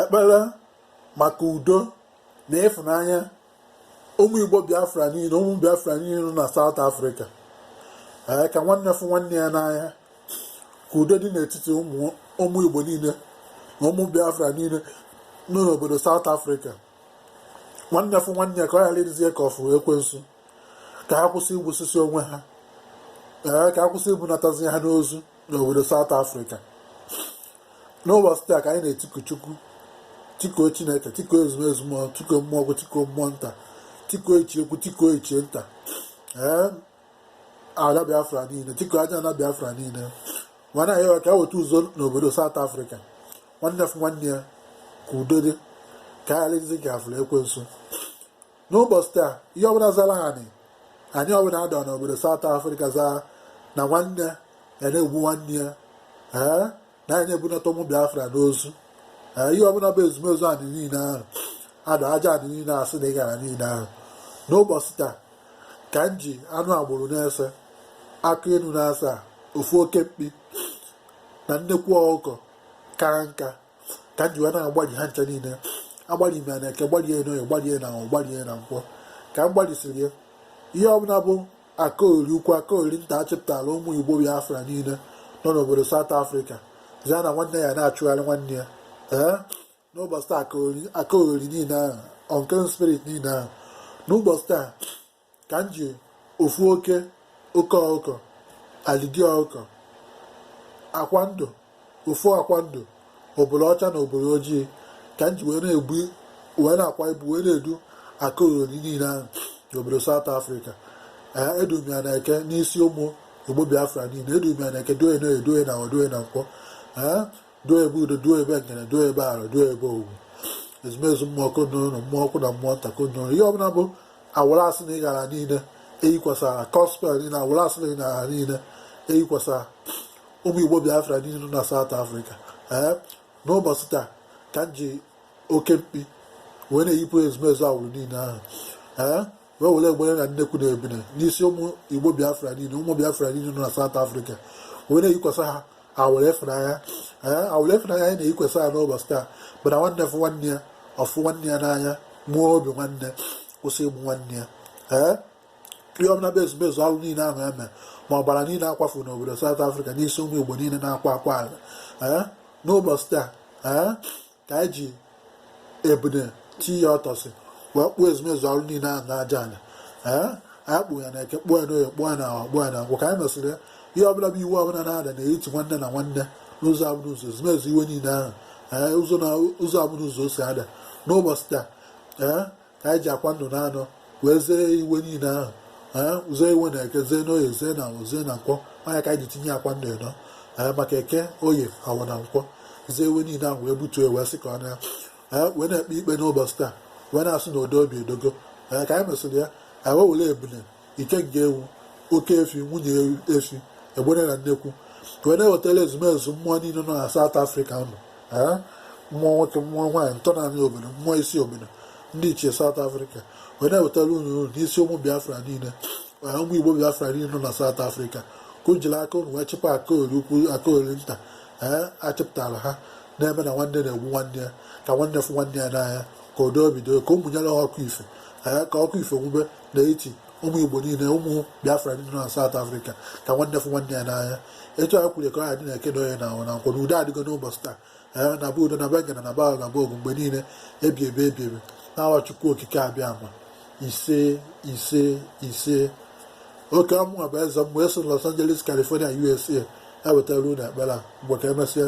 ekpere maka udo na ịfụnanya ụmụ igbo biafra niile ụmụ biafra niile nọ na South Africa ee ka nwanne fụ nwanne ya n'anya ka udo dị n'etiti ụmụ igbo niile na ụmụ biafra niile nọ n'obodo South Africa nwanne fụ nwanne ya ka ọ ghara ịdịzie ka ọ fụ ekwensu ka ha kwụsị igbusisi onwe ha ee ka ha kwụsị ibunatazi ha n'ozu n'obodo South Africa n'ụbọchị taa ka anyị na-etiku Chukwu tikuo Chineke tikuo ezumezu mmụọ tikuo mmụọ ukwu tikuo mmụọ nta tikuo ichie ukwu tikuo ichie nta ee ala Biafra niile tikuo ajana Biafra niile mana anyị ka e weta udo n'obodo South Africa nwanne fụ nwanne ya ka udo dị ka ọ ghara ịdịzi ka afụrụ ekwensu n'ụbọchị taa ihe ọbụla zara anị anị ọbụla adọ n'obodo South Africa zaa na nwanne ya na-egbu nwanne ya ee na anyị na-ebunata ụmụ Biafra n'ozu ee ihe ọbụla bụ ezumezu anị niile ahụ adọ aja anị niile asị na ịgara niile ahụ n'ụbọchị taa ka m ji anụ agbụrụ na ise akụ inu na asaa ofu oke mkpi na nnekwu ọkụkọ kara nka ka m ji wee na-agbalị ha ncha niile agbalị m ya na eke gbalie ya n'oye gbalie ya na afọ gbalie ya na nkwọ ka m gbalịsiri ya ihe ọbụla bụ akaori ukwu akaori nta achịpụtara ụmụ igbo biafra niile nọ n'obodo South Africa zia na nwanne ya na-achụgharị nwanne ya ee n'ụbọchị taa akaori niile ahụ unclean spirit niile ahụ n'ụbọchị taa ka m ji ofu oke ọkụkọ alidi ọkụkọ akwa ndụ ofu akwa ndụ obolo ọcha na obolo ojii ka m ji wee na-akwa ibu wee na-edu akaoghori niile ahụ n'obodo South Africa ee edu m ya na eke n'isi ụmụ Igbo Biafra niile edu m ya na eke duo ya n'oye duo ya n'afọ duo ya na nkwọ ee duo ebe udo duo ebe ngene duo ebe ala duo ebe owu ezumezu mmụọ konoro mmụọ ukwu na mmụọ nta konoro ihe ọbụla bụ awụrụ asị na ịghara niile eyikwasara gospel niile awụrụ asị na ịghara niile eyikwasara ụmụ igbo biafra niile nọ na South Africa ee eh, n'ụbọchị taa ka m ji oke mkpi wee na-eyipụ ezumezu awụrụ niile ahụ ee eh, wee were egbene na nnekwu na ebini n'isi ụmụ igbo biafra niile ụmụ biafra niile nọ na South Africa wee na-eyikwasa ha awụrụ ịfụnanya awụrụ ịfụnanya anyị na-eyikwasa ha n'ụbọchị taa bụ na nwanne fụ nwanne ya ọ fụ nwanne ya n'anya mụọ obi nwanne kwụsị igbu nwanne ya ee ihe ọbụla bụ ezumezu alụ niile ahụ eme ma ọbara niile akwafu n'obodo South Africa n'isi ụmụ igbo niile na-akwa akwa ala ee n'ụbọchị taa ee ka anyị ji ebune ti ya ọtọsị wee kpụọ ezumezu arụ niile ahụ n'aja anị ee anyị kpụ ya na eke kpụọ ya n'oye kpụọ ya na awọ kpụọ ya na nkwọ ka anyị mesịrị ya ihe ọbụla bụ iwe ọbụla na-ada n'etiti nwanne na nwanne n'ụzọ abụna ụzọ ezumezu iwe niile ahụ ee ụzọ na ụzọ abụna ụzọ o si ada n'ụbọchị taa ee ka anyị ji akwa ndụ na anọ wee zee iwe niile ahụ ee zee iwe na eke zee n'oye zee na awọ zee na nkwọ ọ nya ka anyị ji tinye akwa ndụ ịnọ ee maka eke oye awọ na nkwọ zee iwe niile ahụ wee butuo wee sị ka ọ na ee wee na-ekpe ikpe n'ụbọchị taa wee na-asị na odo obi edogo ee ka anyị mesịrị ya anyị wee were ebune ike nke ewu oke efi nwunye efi egbene na nnekwu wee na-ewetara ezumezu mmụọ niile nọ na South Africa nọ mmụọ nwoke mmụọ nwaanyị ntọnanị obodo mmụọ isi obodo ndị ichie South Africa wee na-ewetara unu unu n'isi ụmụ Biafra niile ụmụ Igbo Biafra niile nọ na South Africa ka o jiri aka unu wee chịkwa akaori ukwu akaori nta ee achịpụtara ha na-eme na nwanne na-egbu nwanne ya ka nwanne fụ nwanne ya n'anya ka udo bido ka unu mụnyere ha ọkụ ife ee ka ọkụ ife nwube n'etiti ụmụ igbo niile ụmụ biafra ndị nọ na South Africa ka nwanne fụ nwanne ya n'anya etu anyị kwuru ka ọ ya dị na eke na oye na awọ na nkwọ na udo adịgo n'ụbọchị taa ee na bụ udo na bengana na ba na bọọgụ mgbe niile ebi ebe ebi ebe n'awa chukwu okike abịama ise ise ise ọ kwa mụnwa bụ eze mmụọ esi los angeles california usa ewetara unu ekpere a mgbe ka emesịa